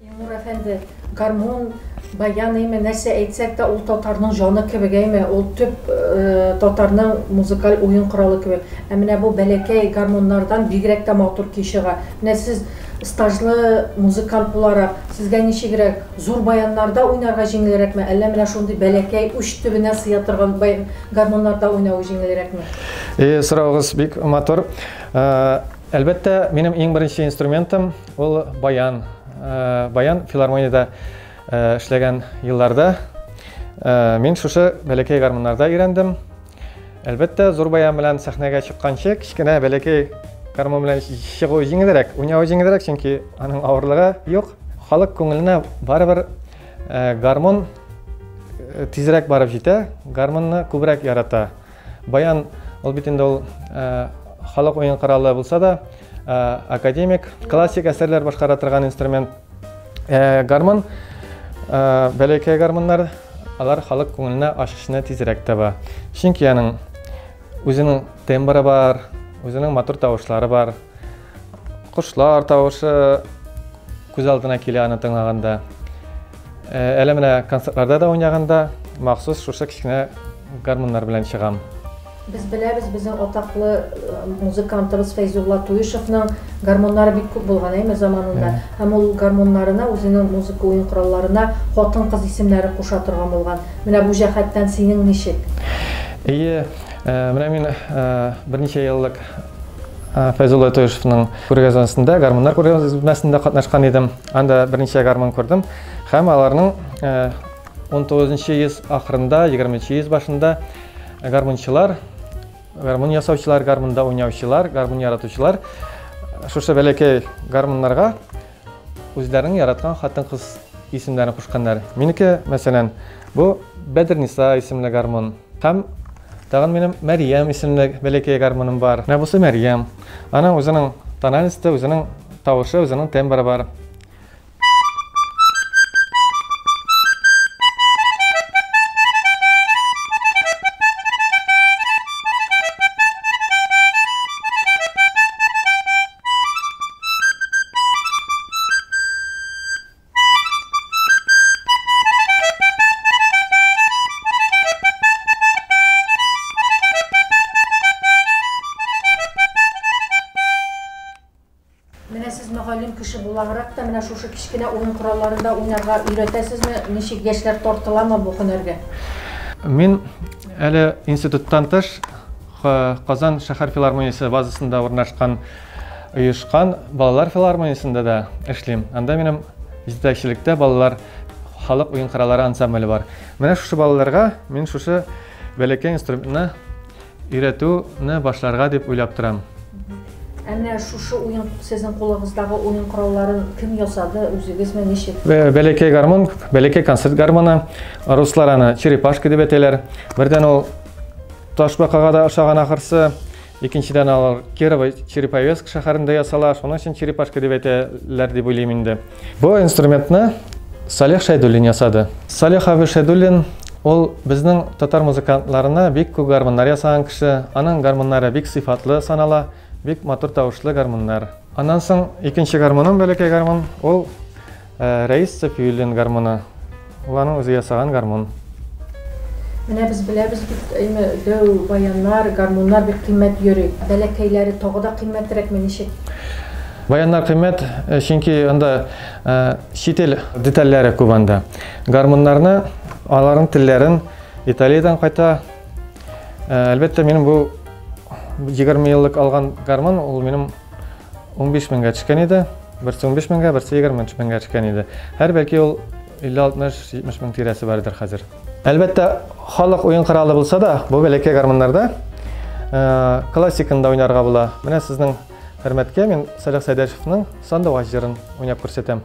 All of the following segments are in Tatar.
Илнур әфәнде, гармун, баян әйме, нәрсә әйтсәк тә, ул татарның җаны кебек әйме, ул төп э, татарның музыкаль уен коралы кебек. Ә менә бу бәләкәй гармуннардан бигрәк тә матур көй чыга. Менә сез стажлы музыкант буларак, сезгә ничегрәк, зур баяннарда уйнарга җиңелрәкме, әллә менә шундый бәләкәй уч төбенә сыя торган баян- гармуннарда уйнавы җиңелрәкме? И, сораугыз бик матур. Э, Әлбәттә, минем иң беренче инструментым ул баян. Баян филармониядә эшләгән елларда мин шушы бәләкәй гармуннарда өйрәндем. Әлбәттә, зур баян белән сәхнәгә чыкканчы, кечкенә бәләкәй гармун белән чыгу җиңелрәк, уйнау җиңелрәк, чөнки аның авырлыгы юк. Халык күңеленә барыбер гармун тизрәк барып җитә, гармунны күбрәк ярата. Баян, ул бит инде ул халык уен коралы булса да, академик, классик әсәрләр башкара торган инструмент. Гармон, бәләкәй гармоннар, алар халык күңеленә ачышны тизрәк таба. Чөнки аның үзенең тембры бар, үзенең матур тавышлары бар. Кошлар тавышы күз алдына килә аны тыңлаганда. Э, әле менә концертларда да уйнаганда махсус шушы кечкенә гармоннар белән чыгам. Без беләбез, безнең атаклы э, музыкантыбыз Фәйзулла Туешевның гармоннары бик күп булган әйме заманында. Һәм ул гармоннарына, үзенең музыка уен коралларына хатын-кыз исемнәре куша торган булган. Менә бу җәһәттән синең ничек? Әйе, э, менә мин берничә еллык Ә, Фәйзулла Өтөешевның күргәзмәсендә, гармуннар күргәзмәсендә катнашкан идем. Анда берничә гармун күрдем һәм аларның 19 э, йөз ахырында, 20 йөз башында гармунчылар, гармун ясаучылар, гармунда уйнаучылар, гармун яратучылар шушы бәләкәй гармуннарга Үзләренең яраткан хатын-кыз исемнәрен кушканнар. Минеке, мәсәлән, бу Бәдерниса исемле гармун. Һәм тагын минем Мәриям исемле бәләкәй гармуным бар. Менә бусы Мәриям. Аның үзенең тональности, үзенең тавышы, үзенең тембры бар. Менә сез мөгаллим кеше буларак та менә шушы кечкенә уен коралларында уйнарга өйрәтәсезме? Ничек яшьләр тартыламы бу һөнәргә? Мин әле институттан тыш Ка, Казан шәһәр филармониясе базасында урнашкан оешкан балалар филармониясендә дә эшлим. Анда минем җитәкчелектә балалар халык уен-кыралары ансамбле бар. Менә шушы балаларга мин шушы бәләкәй инструментны өйрәтүне башларга дип уйлап торам. Ә менә шушы уен, сезнең кулыгыздагы уен коралларын кем ясады, үзегезме, ничек? Бә, бәләкәй гармун, бәләкәй концерт гармуны, руслар аны черепашка дип әйтәләр. Бердән ул Ташбакага да ошаган ахырсы. Икенчедән алар Кирово Череповецк шәһәрендә ясала, шуның өчен черепашка дип әйтәләр дип уйлыйм инде. Бу инструментны Салих Шәйдуллин ясады. Салих абый Шәйдуллин Ул безнең татар музыкантларына бик күп гармуннар ясаган кеше. Аның гармуннары бик сыйфатлы санала, бик матур тавышлы гармуннар. Аннан соң икенче гармуным, бәләкәй гармун, ул Рәисов Юлин гармуны. Ул аның үзе ясаган гармун. Менә без беләбез бит, әйме, дәү баяннар, гармуннар бик кыйммәт йөри. Бәләкәйләре тагы да кыйммәтрәкме, ничек? Баяннар кыйммәт, э, чөнки анда э, чит ил детальләре күп анда. Гармуннарны, аларның телләрен Италиядән кайта. Э, әлбәттә, минем бу 20 еллык алган гармун, ул минем 15 меңгә төшкән иде. Берсе 15 меңгә, берсе 23 меңгә төшкән иде. Һәр бәлки ул 50-60-70 мең тирәсе бардыр хәзер. Әлбәттә, халык уен коралы булса да, бу бәләкәй гармуннарда э, классикында уйнарга була. Менә сезнең хөрмәткә мин Салих Сәйдәшевның Сандугач җырын уйнап күрсәтәм.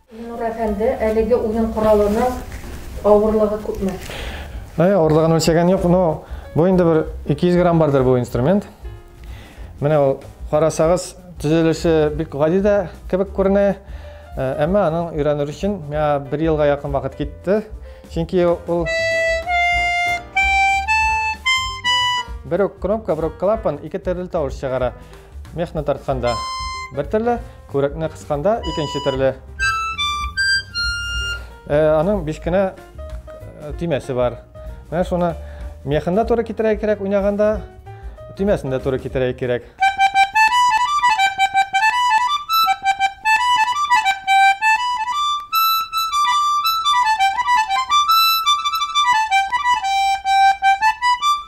Миннур әфәнде, әлеге уен коралының авырлыгы күпме? Әй, авырлыгын үлчәгән юк, но бу инде бер 200 грамм бардыр бу инструмент. Менә ул карасагыз, төзелеше бик гади дә кебек күренә. Э, әмма аның өйрәнер өчен миңа бер елга якын вакыт китте. Чөнки ул бер үк кнопка, бер үк клапан ике төрле тавыш чыгара. Мехны тартканда бер төрле, күрәкне кысканда икенче төрле. Э, аның биш кенә э, төймәсе бар. Менә шуны мехында туры китерә кирәк уйнаганда, төймәсендә туры китерә кирәк.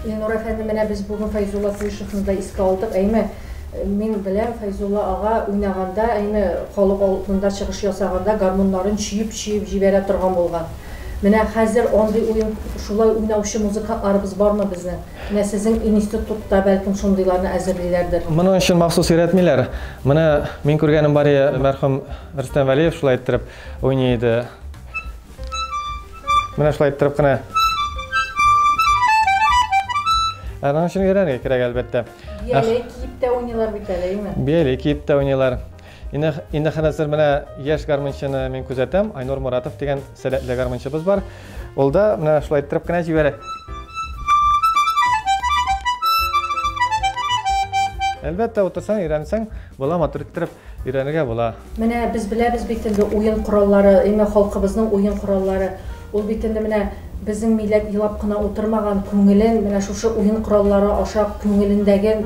Илнур әфәнде, менә без бүген Фәйзулла Куйшевны да искә алдык. Әйме, мин беләм, Фәйзулла ага уйнаганда, әйме, халык алдында чыгыш ясаганда гармуннарын чөеп-чөеп җибәрә торган булган. Менә хәзер андый уен, шулай уйнаучы музыкантларыбыз бармы безнең? Менә сезнең иниститутта, бәлкем, шундыйларны әзерлиләрдер. Моның өчен махсус өйрәтмиләр. Менә мин күргәнем бар иде, мәрхүм Рөстәм Вәлиев шулай иттереп уйный иде. Менә шулай иттереп кенә. Аның өчен өйрәнергә кирәк, әлбәттә. Бияле киеп тә уйныйлар бит әле, әйме? Бияле киеп тә уйныйлар. Инде инде хәзер менә яшь гармунчыны мин күзәтәм, Айнур Муратов дигән сәләтле гармунчыбыз бар. Ул да менә шулай иттереп кенә җибәрә. Әлбәттә, утырсаң, өйрәнсәң, була матур иттереп. Өйрәнергә була. Менә без беләбез бит инде уен кораллары, именно халкыбызның уен кораллары. Ул бит инде менә безнең милләт елап кына утырмаган, күңелен менә шушы уен кораллары аша күңелендәген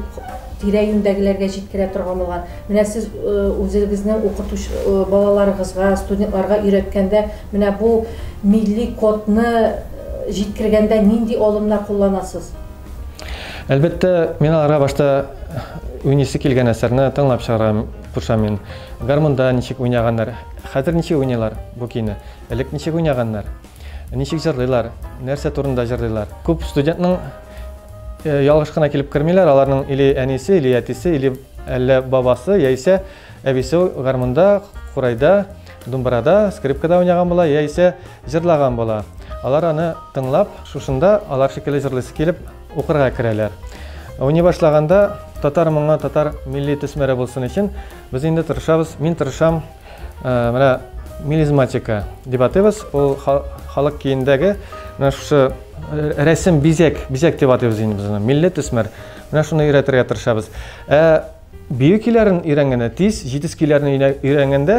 тирә-юньдәгеләргә җиткерә торган булган. Менә сез үзегезнең укытуч балаларыгызга, студентларга өйрәткәндә менә бу милли кодны җиткергәндә нинди алымнар кулланасыз? Әлбәттә, мин аларга башта уйныйсы килгән әсәрне тыңлап чыгарам, куша мин. Гармунда ничек уйнаганнар, хәзер ничек уйныйлар бу көйне, элек ничек уйнаганнар, ничек җырлыйлар, нәрсә турында җырлыйлар. Күп студентның э, ялгыш кына килеп кермиләр, аларның или әнисе, или әтисе, или әллә бабасы, яисә әбисе гармунда, курайда, Думбырада, скрипкада уйнаган була, яисә җырлаган була. Алар аны тыңлап, шушында алар шикелле җырлыйсы килеп, укырга керәләр. Уйный башлаганда татар моңы, татар милли төсмәре булсын өчен без инде тырышабыз. Мин тырышам, э, менә мелизматика дип атыйбыз. Ул халык киендәге менә шушы э, рәсем бизәк, бизәк дип атыйбыз инде без аны. Милли төсмәр. Менә шуны өйрәтергә тырышабыз. Ә Бию көйләрен өйрәнгәндә тиз, җитез көйләрне өйрәнгәндә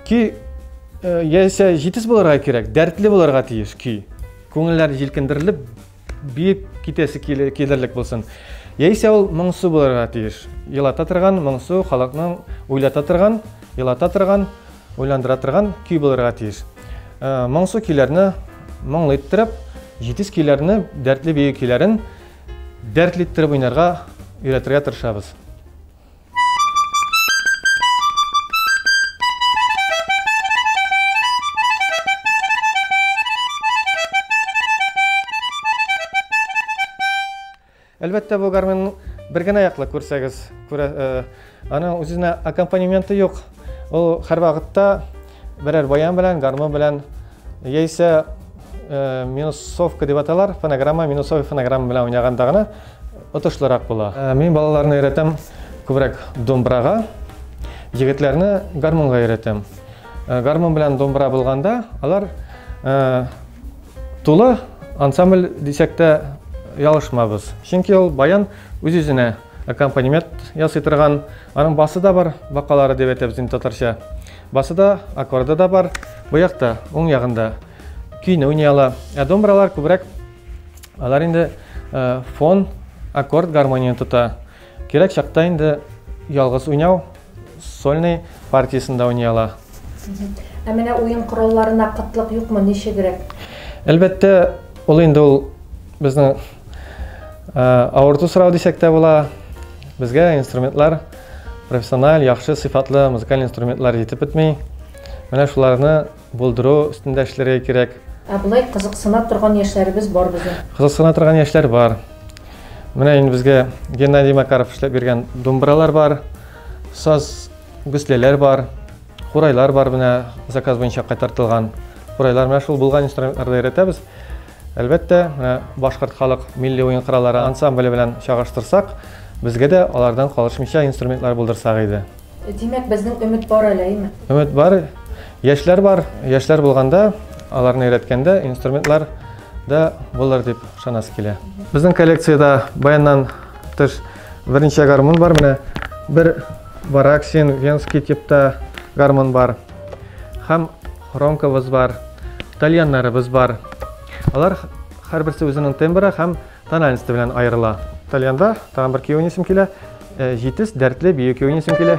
көй э, яисә җитез булырга кирәк, дәртле булырга тиеш көй. Күңелләр җилкендерелеп, биеп китәсе килерлек булсын. Яисә ул моңсу булырга тиеш. Елата торган, моңсу, халыкның уйлата торган, елата торган, уйландыра торган көй булырга тиеш. Э, моңсу көйләрне моңлы иттереп, җитез көйләрне, дәртле бию көйләрен Дәртле иттереп уйнарга өйрәтергә тырышабыз. Әлбәттә, бу гармонның бер генә яклы күрсәгез, күрә, э, Аның үзенә аккомпанементы юк. Ул һәрвакытта берәр баян белән, гармон белән, яисә э, минусовка дип аталар, фонограмма, минусовый фонограмма белән уйнаганда гына отышлырак була. Э, мин балаларны өйрәтәм күбрәк домбырага, егетләрне гармонга өйрәтәм. Э, гармон белән домбыра булганда, алар э, тулы ансамбль дисәк тә ялышмабыз. Чөнки ул баян үз-үзенә Аккомпанемент ясый торган, аның басы да бар, бакалары дип әйтәбез инде татарча. Басы да, аккорды да бар. Бу якта, уң ягында көйне уйный ала. Ә домбыралар күбрәк алар инде э, фон, аккорд гармонияне тота. Кирәк чакта инде ялгыз уйнау сольный партиясендә уйный ала. Ә менә уен коралларына кытлык юкмы, ничегрәк? Әлбәттә, ул инде ул безнең Авырту сорау дисәк тә була. Безгә инструментлар профессиональ, яхшы сыйфатлы музыкаль инструментлар җитеп бетми. Менә шуларны булдыру өстендә эшләргә кирәк. Ә болай кызыксына торган яшьләребез бар безнең. Кызыксына торган яшьләр бар. Менә инде безгә Геннадий Макаров эшләп биргән думбралар бар, саз гөсләләр бар, курайлар бар менә заказ буенча кайтартылган. Курайлар менә шул булган инструментларда өйрәтәбез. Әлбәттә, менә башкорт халык милли уен кораллары ансамбле белән чагыштырсак, безгә дә алардан калышмыйча инструментлар булдырсак иде. Димәк, безнең өмет бар әле, әйме? Өмет бар, яшьләр бар, яшьләр булганда, аларны өйрәткәндә инструментлар да булыр дип ышанасы килә. Безнең коллекциядә баяннан тыш, Берничә гармун бар менә. Бер вараксин, венский типта гармун бар. Хам хромкабыз бар. Тальяннарыбыз бар. Алар һәрберсе үзенең тембры һәм тональности белән аерыла. Тальянда тагын бер киюнисем килә. Э, җитез дәртле бию киюнисем килә.